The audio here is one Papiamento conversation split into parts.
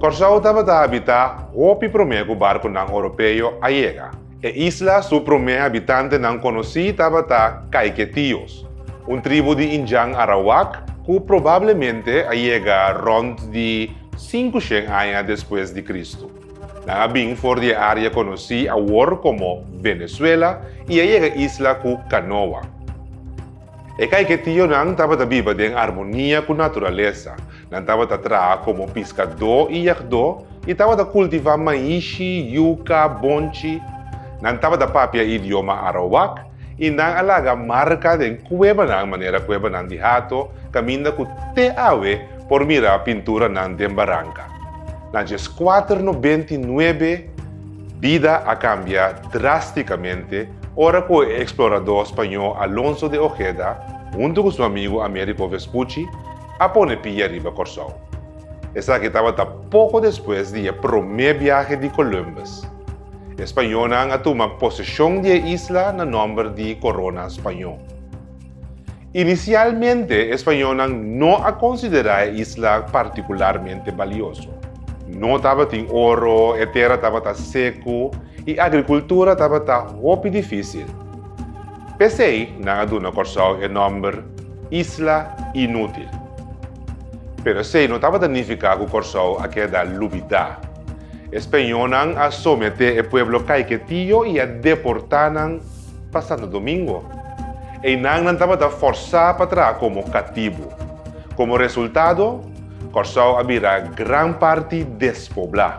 Kòrsou tabata habitá hopi promé ku barkunan oropeo a yega. E isla su promé habitantenan konosí tabata Kaiketios, un tribu di Indian Arawak ku probablemente a yega rònt di sinku shen aña despues di Kristu. Nan a bin for di e área konosí awor komo Venezuela i a yega isla ku kanoa. E Kaiketionan tabata biba den armonia ku naturalesa, nan tabata traha komo piskadó i yagdó i tabata kultivá maishi, yuka, bonchi. Nan tabata papia idioma Arawak I nan a laga marka den kuebanan manera kuebanan di hato, kaminda ku te awe por mira pinturanan den baranka. Na djes kuater no benti nuebe, bida a kambia drástikamente ora ku e eksploradó spañó Alonso de Ojeda, huntu ku su amigu Américo Vespucci, a pone pia riba Kòrsou. Esaki tabata poko despues di e promé biahe di Columbus. E spañónan a tuma poseshon di e isla na nòmber di Korona Spañó. Inisialmente e spañónan no a konsiderá e isla partikularmente balioso. No tabatin oro, e tera tabata seku i agrikultura tabata hopi difísil. P'esei nan a duna Kòrsou e nòmber Isla Inútil. Pero esei no tabata nifiká ku Kòrsou a keda lubidá. E speñónan a someté e pueblo kaiketio i a deportá nan pa Santo Domingo. Einan nan tabata fòrsá pa traha komo katibu. Komo resultado, Kòrsou a bira gran parti despoblá.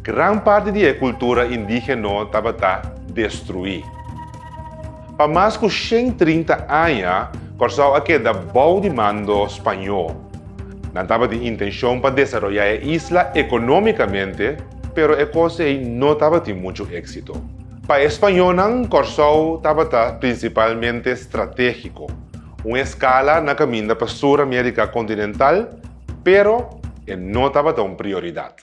Gran parti di e kultura indígeno tabata destruí. Pa mas ku shen trinta aña Kòrsou a keda bou di mando spañó. Nan tabatin intenshon pa desaroyá e isla ekonómikamente, pero e kos ei no tabatin muchu éksito. Pa e spañónan Kòrsou tabata prinsipalmente stratégiko, un eskala na kaminda pa Sur-Amérika kontinental, pero e no tabata un prioridat.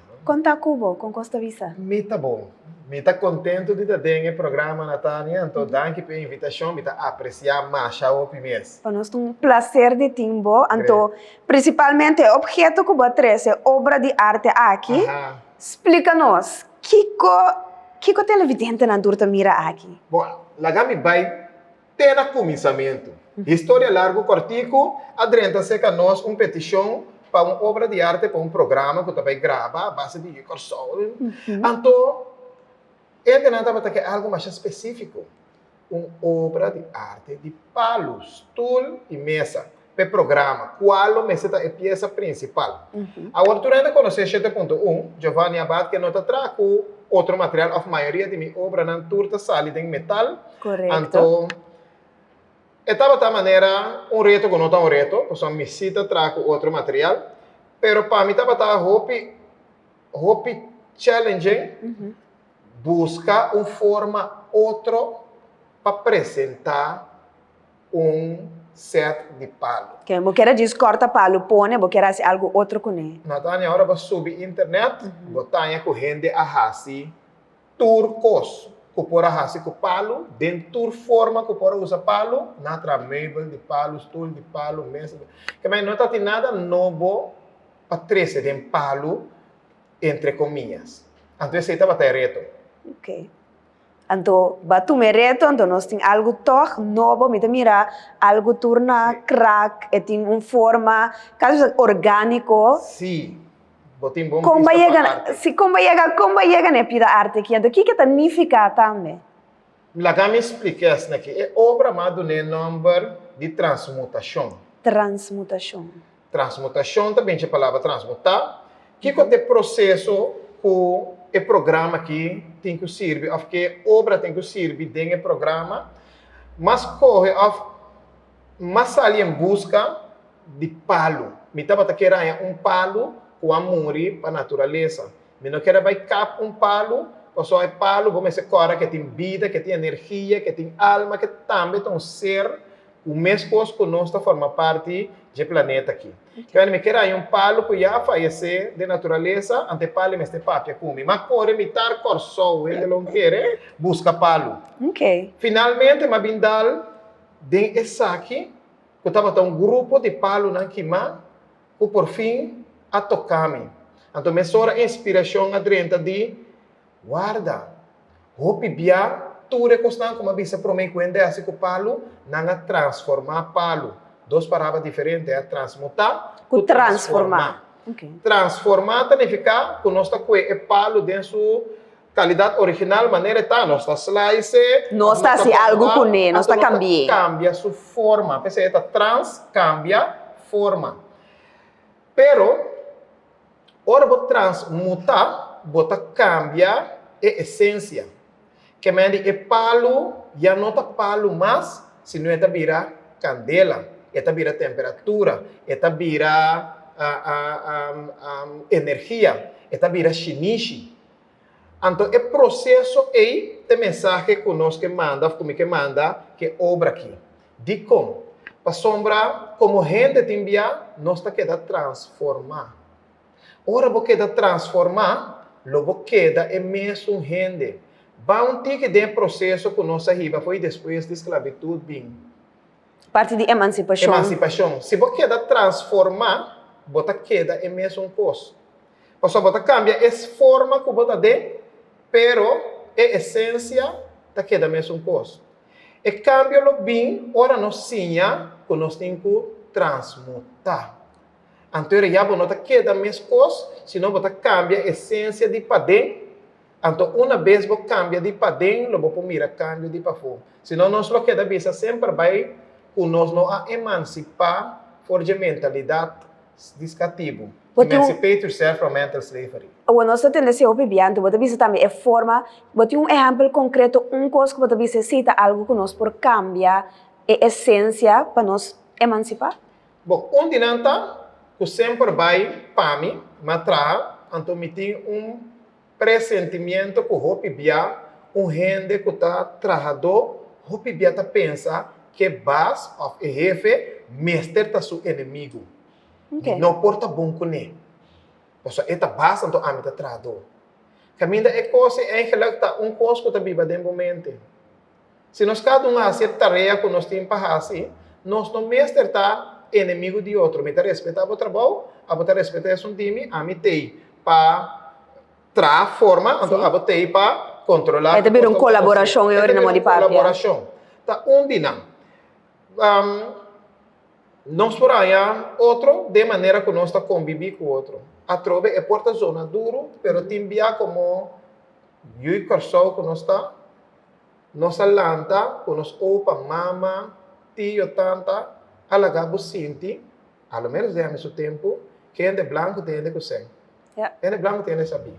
Con ta cu bo? Con cos ta bisa? Mi ta bon. Mi ta contento di ta den e programa, Natania, anto danki p'e invitacion, mi ta aprecia masha hopi mes. Pa nos ta un placer di tin bo, anto principalmente e obheto cu bo a trece, e obra di arte aki, splica nos, kico kico televidentenan tur ta mira aki? Bon, laga mi bay Te na kuminsamentu. Historia largu kòrtiku a drenta seka nos un petishon pa un obra di arte pa un programa ku ta bai graba base di Kòrsou. Anto hendenan tabata ke algu masha spesífiko, un obra di arte di palus, tul i mesa. p'e programa, kua lo mester ta e piesa prinsipal. Awor tur hende konosé Shete Punto Un, Giovanni Abad ke no ta traha ku otro material òf mayoria di mi obranan tur ta sali den metal, anto e tabata manera un reto ku no ta un reto, pasobra mi si ta traha ku otro material, pero pa mi tabata hopi hopi challenging buska un forma otro pa presentá. un set di palu. Ke bo keda djis korta palu pone bo keda hasi algu otro kune. Natania ora bo subi internet bo taña ku hende a hasi tur kos ku por a hasi ku palu den tur forma ku por a usa palu na traha meubel di palu stul di palu mes di kemei no ta tin nada nobo pa trese den palu entre komias anto esei tabata e reto. Anto ba tuma e reto, anto nos tin algu tòg nobo, mi ta mira algu tur na krak, e tin un forma kasa ta ser orgániko. Sí, bo tin bon Kon ba bista yega, pa arte. sí, kon ba yega, kon ba yega na e pida arte aki? Anto kiko ta nifiká tambe? Mi laga mi spliká esnan aki. E obra mas dun'é nòmber di Transmutashon. Transmutashon. Transmutashon ta binchi e palabra transmutá. Kiko ta e proseso ku e programa aki tin ku sirbi òf ke obra tin ku sirbi den e programa mas kohe òf mas sali en buska di palu? Mi tabata ke raña un palu ku a muri pa naturalesa. Mi no keda bai kap un palu, pasobra e palu bo mester kòrda ke tin bida, ke tin energia, ke tin alma, ke tambe ta un ser. Un mes kos ku nos ta forma parti dje planeta aki. Kende mi keda haña un palu ku ya a fayesé den naturalesa, ante e palu e mester papia ku mi. Mi a kore mi tar Kòrsou, hende lo kere, buska palu. Finalmente mi a bin dal den esaki ku tabata un grupo di palunan kimá ku por fin a toká mi. Anto mesora inspirashon a drenta di. Warda! Hopi bia, tur e kosnan ku mi a bisa promé ku hende a hasi ku palu, nan a transformá palu. Dos parabra diferente, e a transmutá ku transformá. Transformá ta nifiká ku nos ta kue e palu den su kalidat original, manera e ta. Nos ta slice e, nos ta hasi algu kuné, nos ta kambi'é. Nos ta kambia su forma. P'esei e ta trans, kambia, forma. Pero, ora bo transmutá, bo ta kambia e esensia. Kemèn di e palu ya no ta palu mas, sino e ta bira kandela, e ta bira temperatura, e ta bira energia, e ta bira shinishi. Anto e proseso ei ta e mensahe ku nos ke manda òf ku mi ke manda ku e obra akí. Dikon? Pasobra komo hende tin bia, nos ta keda transformá. Ora bo keda transformá, lo bo keda e mesun hende. Ban un tiki den e proseso ku nos a hiba fo'i despues di sklabitut bin. Parti di emansipashon. Emansipashon. Si bo keda transformá, bo ta keda e mesun kos. Pasobra bo ta kambia e forma ku bo ta den, pero e esensia ta keda mesun kos. E kambio lo bin ora nos siña ku nos tin ku transmutá. Anto ora ya bo no ta keda mes kos, sino bo ta kambia esensia di paden. Anto una bes bo kambia di paden lo bo por mira kambio di pafó. Si no nos lo keda bisa semper bai ku nos no a emansipá for dje mentalidat di skatibu, emancipate yourself from mental slavery. Awor nos ta tende ese hopi biantu. Bo ta bisa tambe e forma, bo tin un ehèmpel konkreto, un kos ku bo ta bisa esei ta algu ku nos por kambia e esensia pa nos emansipá? Bo un di nan ta, Ku semper bai, pami, m'a traha, anto mi tin un. Presentimiento cu hopi bia un hende cu ta trahadó hopi bia ta pensa cu e bas of e hefe mester ta su enemigo. Mi no por ta bon cu ne, pasobra e ta bas anto ami ta trahadó. Caminda e cos ei eigenlijk ta un cos cu ta biba den bo mente. Si nos kada un hasi e tarea ku nos tin pa hasi, nos no mester ta enemigu di otro. Mi ta respetá bo trabou, abo ta respetá esun di mi. Ami t'ei pa traha forma, anto abo t'ei pa kontrolá ku kos ta bira un kolaborashon e ora nan modi papia. E ta bira un kolaborashon. Ta un di nan. Nos por haña otro den manera ku nos ta kombibí ku otro. Atrobe e por ta zona duru, pero tin bia komo yu i Kòrsou ku nos ta. Nos a lanta cu nos opa, mama, tio, tanta a laga bo sinti, a lo menos den su tempo, cu hende blanco ta hende cu sen. Hende blanco ta hende sabi.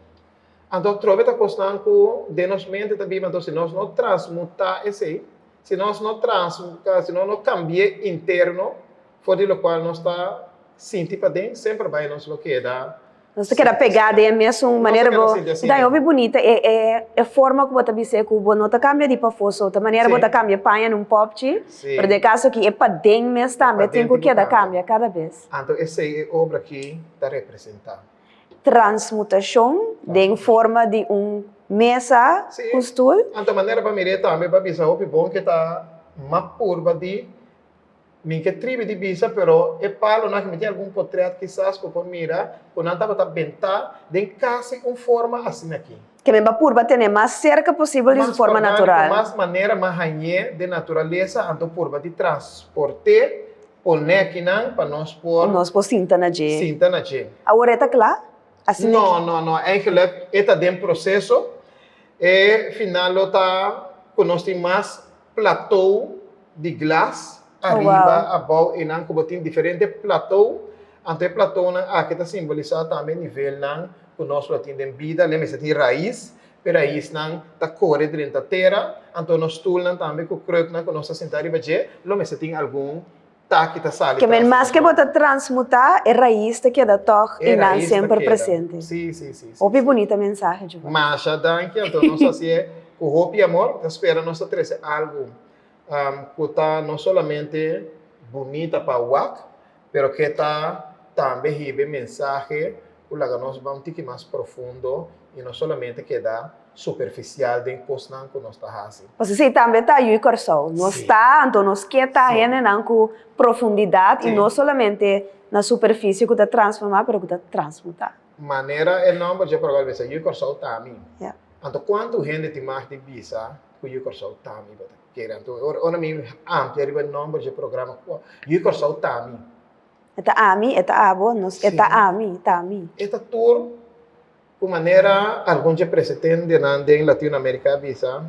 Anto atrobe ta cosnan cu den nos mente ta biba, anto si nos no transmuta esey, si nos no trans, si nos no cambie interno, for di locual nos ta sinti paden, semper bay nos lo keda. Nos ta keda pegá den e mesun manera bo ta haña hopi bunita. E e e forma ku bo ta bis'é ku bo no ta kambia di pafó-so ta manera bo ta kambia paña na un pòpchi, pero den e kaso aki e paden mes tambe tin ku keda kambia kada bes. Anto esei e obra aki ta representá? Transmutashon den forma di un mesa ku stul. Anto manera pa mir'é tambe pa bisa hopi bon ku e ta map purba di Mi ke tribi di bisa pero e palonan aki mi tin algun potrèt kisas ku por mira ku nan tabata bentá den kasi un forma asina aki. Ke mi ba purba tene mas serka posibel di su forma natural. Mas orgániko, mas manera mas hañ'é den naturalesa anto purba di transport'é pon nekinan pa nos por. Nos por sinta na dje. Sinta na dje. Awor e ta kla? Asina ki. No, no, no. Eingelek e ta den proseso. E final lo ta ku nos tin mas. platou di glas ariba, abou e nan ku bo tin diferente platou. Anto e platounan aki ta simbolisá tambe nivelnan ku nos lo tin den bida. Lembra, esei tin rais, e raisnan ta kore drenta tera. Anto nos stulnan tambe ku kruknan ku nos ta sintá riba dje lo mester tin algun taki ta sali tras nan mas ke bo ta transmutá e rais ta keda tòg i nan semper presente hopi bunita mensahe Giovanna masha danki anto nos ta hasié ku hopi amor ta spera nos ta trese algu ku ta no solamente bunita pa wak pero ke ta tambe hibe mensahe ku laga nos ban un tiki mas profundo i no solamente keda. superficial den cosnan cu nos ta haci. Pasobra si tambe ta yu i Corsou. Nos ta, anto nos ke ta hendenan cu profundidad y no solamente na superficie cu ta transforma, pero cu ta transmuta. Manera e nomber dje proba lo bisa, Yu Corsou ta mi. Anto cuanto hende tin mag di bisa cu Yu Corsou ta mi? Bo ta kere anto ora mi amplia riba e nomber dje programa, Yu Corsou ta mi. E ta ami, e ta abo, nos, e ta ami, ta mi. E ta tur. Ku manera algun dje presetendenan den Latino Amerika a bisa,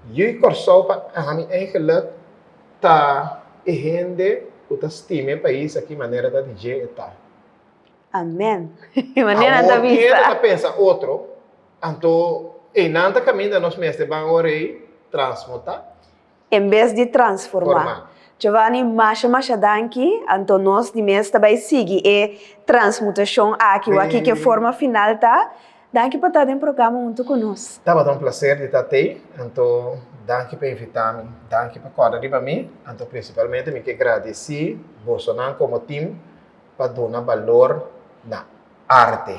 Ui Kòrsou pa ami eigenlik ta e hende ku ta stima e pais aki manera ta di dje e ta. Amen. Manera nan ta bisa. Awor keda ta pensa otro, anto einan ta kaminda nos mester ban awor ei transmuta. En bes di transformá. Giovanni, masha masha danki, anto nos di mes ta bai sigui e transmutashon aki waki ke forma final ta. Danki pa ta den programa huntu ku nos. Tabata un plaser di ta t'ei, anto danki pa invitá mi, danki pa kòrda riba mi, anto prinsipalmente mi ke gradisí bosonan komo tim pa duna balor na arte.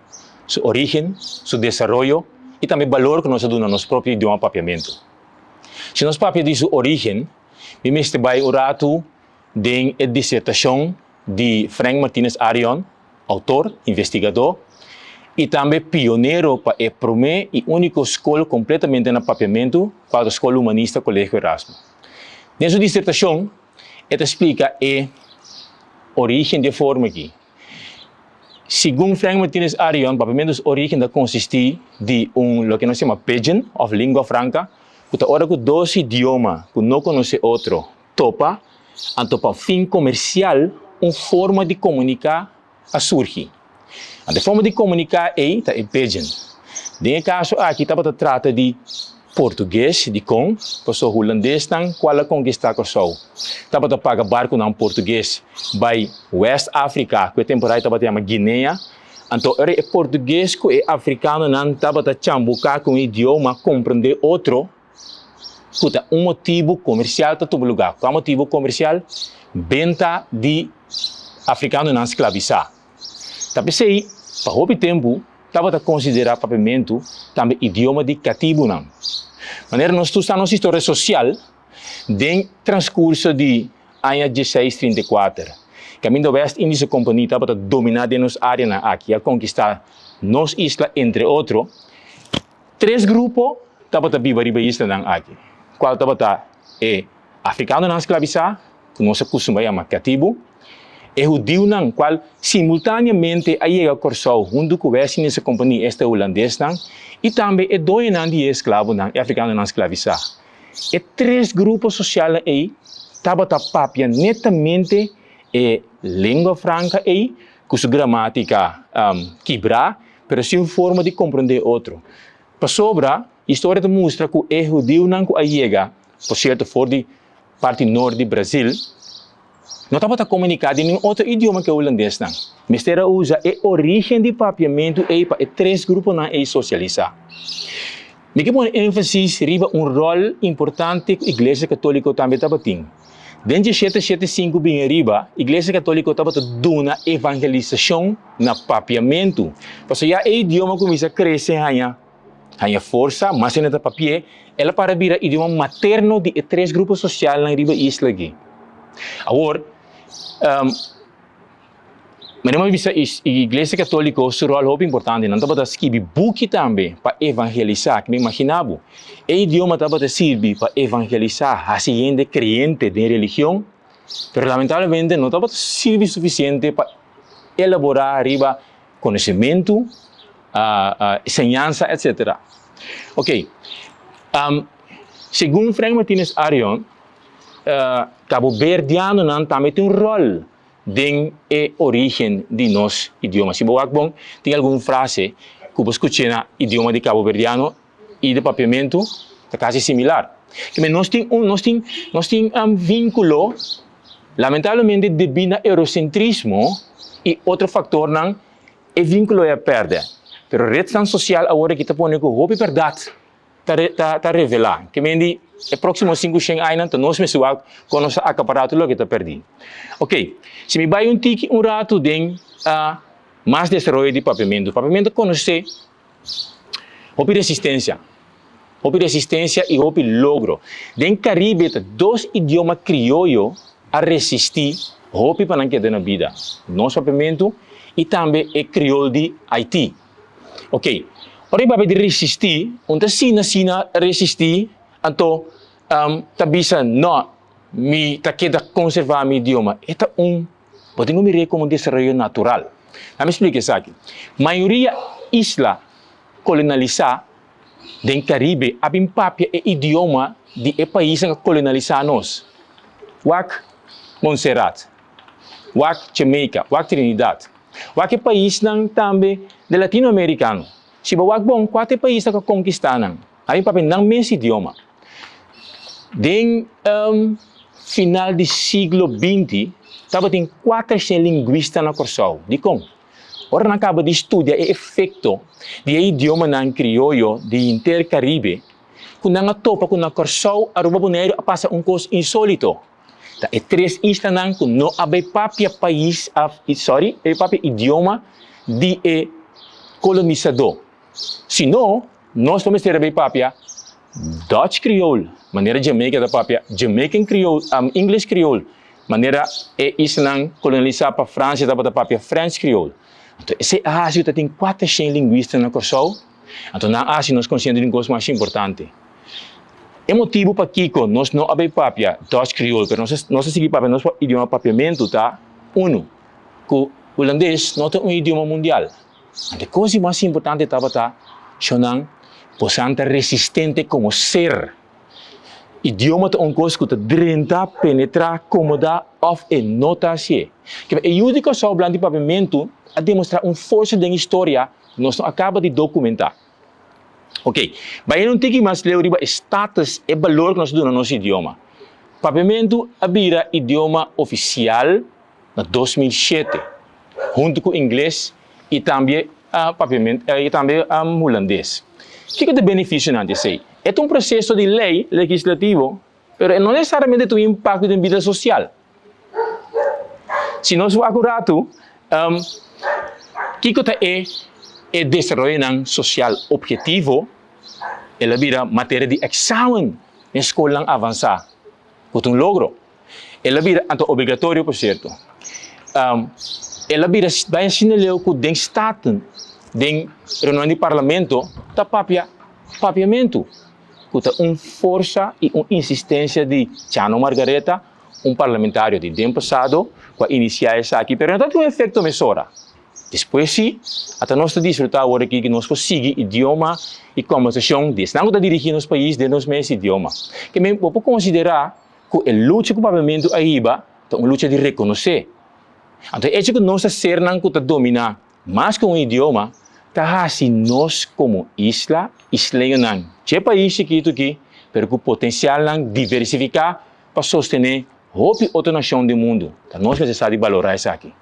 su orígen, su desaroyo i tambe balor ku nos ta duna nos propio idioma papiamentu. Si nos papia di su orígen, mi mester bai un ratu den e disertashon di Frank Martinez Arion, outor, investigadó i tambe pionero pa e promé i úniko skol kompletamente na papiamentu, Kuadro Skol Humanista Kolegio Erasmo. Den su disertashon e ta splika e orígen di e forma aki. Segun Frank Martinez Arion, papiamento su origen ta consisti di un loke nos yama pidgin of lingua franca, cu ta ora cu dos idioma cu no conoce otro topa, anto pa fin comercial un forma di comunica a surgi. Anto e forma di comunica ey ta e pidgin. Den e caso aki tabata trata di. Portugues, dikon? Paso Hulandesnan kual a konkistá Kòrsou tabata paga barkunan portugues bai West Africa, ku e temporada tabata yama Guinea. Anto ora e portugues ku e afrikanonan tabata chambuká ku un idioma komprendé otro, ku ta un motibu komersial pa tubu lugá. Kua motibu komersial? Benta di afrikanonan sklabisá. Ta p'esei, pa hopi tempu, tabata konsiderá papiamentu tambe idioma di katibunan. Manera nos tur sa nos historia sosial den transkurso di aña dieseis trinta i kuater, kaminda West Indische Kompanie tabata dominá den nos áreanan aki, a konkistá nos isla, entre otro, tres grupo tabata biba riba e islanan aki, kual tabata e afrikanonan sklabisá, ku nos a kustumbrá yama katibu, e hudiunan kual simultaneamente a yega Kòrsou huntu ku Westminster Kompani, esta hulandesnan, i tambe e doñonan di e esklabonan, e afrikanonan sklavisá. E tres grupo sosialnan ei tabata papia netamente e lengua franka ei ku su gramátika kibrá, pero sin forma di komprondé e otro. Pasobra historia ta mustra ku e hudiunan ku a yega, por sierto, for di Parti nort di Brazil, no tabata komuniká den nin otro idioma ke hulandesnan. Mester a usa e orígen di papiamentu ei pa e tres gruponan ei sosialisá. Mi ke pone énfasis riba un ròl importante ku Iglesia Katóliko tambe tabatin. Den dje shete shete sinku bini ariba, Iglesia Katóliko tabata duna evangelisashon na papiamentu. Pasobra ya e idioma kuminsá krese haña. haña forsa, mas hende ta papié, el a para bira idioma materno di e tres grupo sosialnan riba e isla aki. Awor, um, Maria Mami bisa is Iglesia Católico su rol hopi importante, nan tabata skibi buki tambe pa evangelisa, kimin imagina bo, e idioma tabata sirbi pa evangelisa, hasi hende creente den religion, pero lamentablemente no tabata sirbi suficiente pa elabora riba conocimentu, señansa, etc. Ok, segun Frank Martinez Arion, caboverdianonan tambe tin un rol den e origen di nos idioma. Si bo wak bon, tin algun frase cu bo scuch'e na idioma di caboverdiano y de papiamentu ta casi similar. Kimen nos tin un nos tin nos tin um vinculo lamentablemente debi na eurocentrismo y otro factornan e vinculo e a perde. Pero redsnan social awor aki ta pone cu hopi berdad ta re ta ta revela kimen di e proximo cinco shen añanan ta nos mesun wak con nos a acapara tur loke ta perdi. Ok si mi bay un tiki un ratu den mas desaroyo di papiamentu papiamentu ta conoce Hopi resistensia, hopi resistensia y hopi logro. Den Caribe ta dos idioma crioyo a resisti hopi pa nan keda na bida, nos papiamento y tambe e criol di Haiti. Ok, ora y papia di resisti, un ta sina sina resisti, anto um, ta bisa no, mi ta keda conserva mi idioma. E ta un. Bo tin ku mir'é komo un desaroyo natural. Lami splika esaki. Mayoria isla kolonalisá den Karibe a bin papia e idioma di e paisnan ku a kolonalisá nos, wak Montserrat, wak Jamaica, wak Trinidad, wak e paisnan tambe di Latinoamerikano. Si bo wak bon, kua ta e paisnan ku a konkistá nan? Ami papia nan mes idioma. Den final di siglo binti tabatin kuater shen lingwista na Kòrsou. Dikon? Ora nan kaba di studia e efekto di e idiomanan krioyo di henter Karibe ku nan a topa ku na Kòrsou, Aruba, Boneiru a pasa un kos insólito. Ta e tres islanan ku no a bai papia pais òf, sòri, papia idioma di e kolonisadó. Si no. Nos lo mester a bay papia Dutch Creole, manera Jamaica ta papia Jamaican Creole, am English Creole, manera e islanan colonialisa pa Francia tabata papia French Creole. Anto esey a haci cu ta tin cuater shen lingüista na Corsou, anto nan a haci nos consciente di un cos mas importante. E motibu pakico nos no a bay papia Dutch Creole pero nos nos a sigui papia nos idioma papiamento ta, uno, cu Hulandes no ta un idioma mundial. Ma e kos di mas importante tabata, Shonnan, bosan ta resistente komo ser. Idioma ta un kos ku ta drenta, penetrá, komodá òf e no ta hasié. Kiba e yu di Kòrsou Blanti Paviamentu a demostrá un forsa den historia ku nos no a kaba di dokumentá. Oke, bayendo un tiki mas leu riba e status, e balor ku nos a duna nos idioma. Paviamentu a bira idioma ofisial na dos mil shete, huntu ku ingles i tambe papiamentu i tambe hulandes. Kiko ta e benefisionan di esei? E ta un proseso di lei legislativo, pero e no nesesariamente ta un impakto den bida sosial. Si nos wak un ratu, kiko ta e e desaroyonan sosial objetivo? El a bira materia di eksamen den skolnan avansá, ku ta un logro. El a bira anto obligatorio, por cierto. Um, el a bira baia sinaleu cu den staten, den reunion di parlamento, ta papia papiamento, cu ta un forza y un insistencia di Chano Margaretha, un parlamentario di den pasado, cu a inicia esaki, pero no ta tin un efecto mesora. Despues si, ata nos ta disfruta awor aki que nos por sigui idioma y conversacion di esnan cu ta dirigi nos pais den nos mes idioma. Ke men, bo por considera, ku e lucha ku Papiamentu a hiba ta un lucha di rekonosé. Anto e echo ku nos ta sernan ku ta dominá mas ku un idioma ta hasi nos komo isla, isleñonan, dje pais chikitu aki pero ku potensialnan diversifiká pa sostené hopi otro nashon den mundu. Ta nos mester sa di balorá esaki.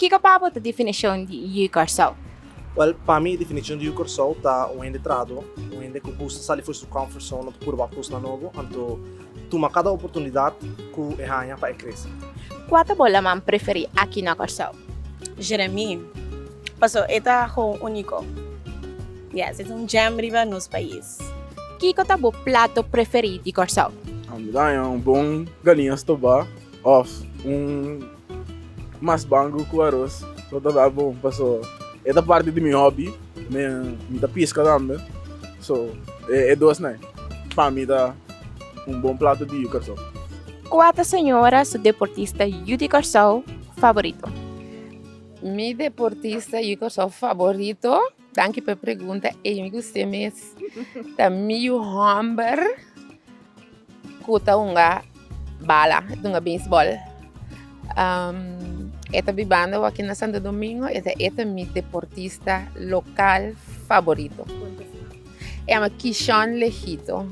Kiko pa bo ta definishon di Yu Kòrsou? Wèl, pa mi e definishon di Yu Kòrsou ta un hende trado, un hende ku gusta sali for su comfort zone òf purba kosnan nobo, anto tuma kada oportunidat ku e haña pa e krese. Kua ta bo laman preferí aki na Kòrsou? Jeremí, paso e ta gewoon úniko. Yes, e ta un gem riba nos pais. Kiko ta bo plato preferí di Kòrsou? Amidaña, un bon galinha stobá òf un Mas bangu ku aros lo ta dal bon paso e ta parti di mi hobby. Mi mi ta piska tambe. So e dos na pa mi ta un bon plato di yu Kòrsou. Ku a ta señora su deportista yu di Kòrsou favorito? Mi deportista yu Kòrsou favorito. Danki pe pregunta Amy ku usted mes ta mi yu homber ku ta hunga bala, ta hunga beisbol. Um, e ta bibando waki na Santo Domingo, e ta e ta mi deportista lokal favorito. E ama Kishon Lehito.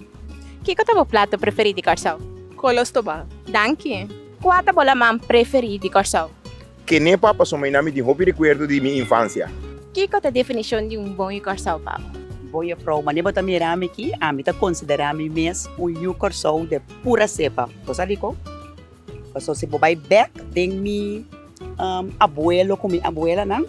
Kiko ta bo plato preferí di Kòrsou? Kolos Tobal. Danki. Kua ta bo laman preferí di Kòrsou? Kené pa pasobra i na mi tin hopi rekuerdo di mi infansia. Kiko ta definishon di un bon yucar salvabo? Bon Jefrouw, manera bo ta mira mi aki, ami ta konsiderá mi mes un yu Kòrsou de pura sepa. Bo sa kiko? Pasobra si bo bai bèk den mi abuelo ku mi abuelanan,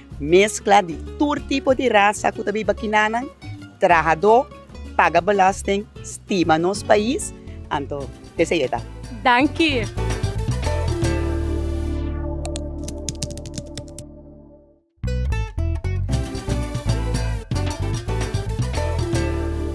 Meskla di tur tipo di rasa ku ta biba kinanan, trahadó, paga belòsting, stima nos pais, anto esei e ta. Danki!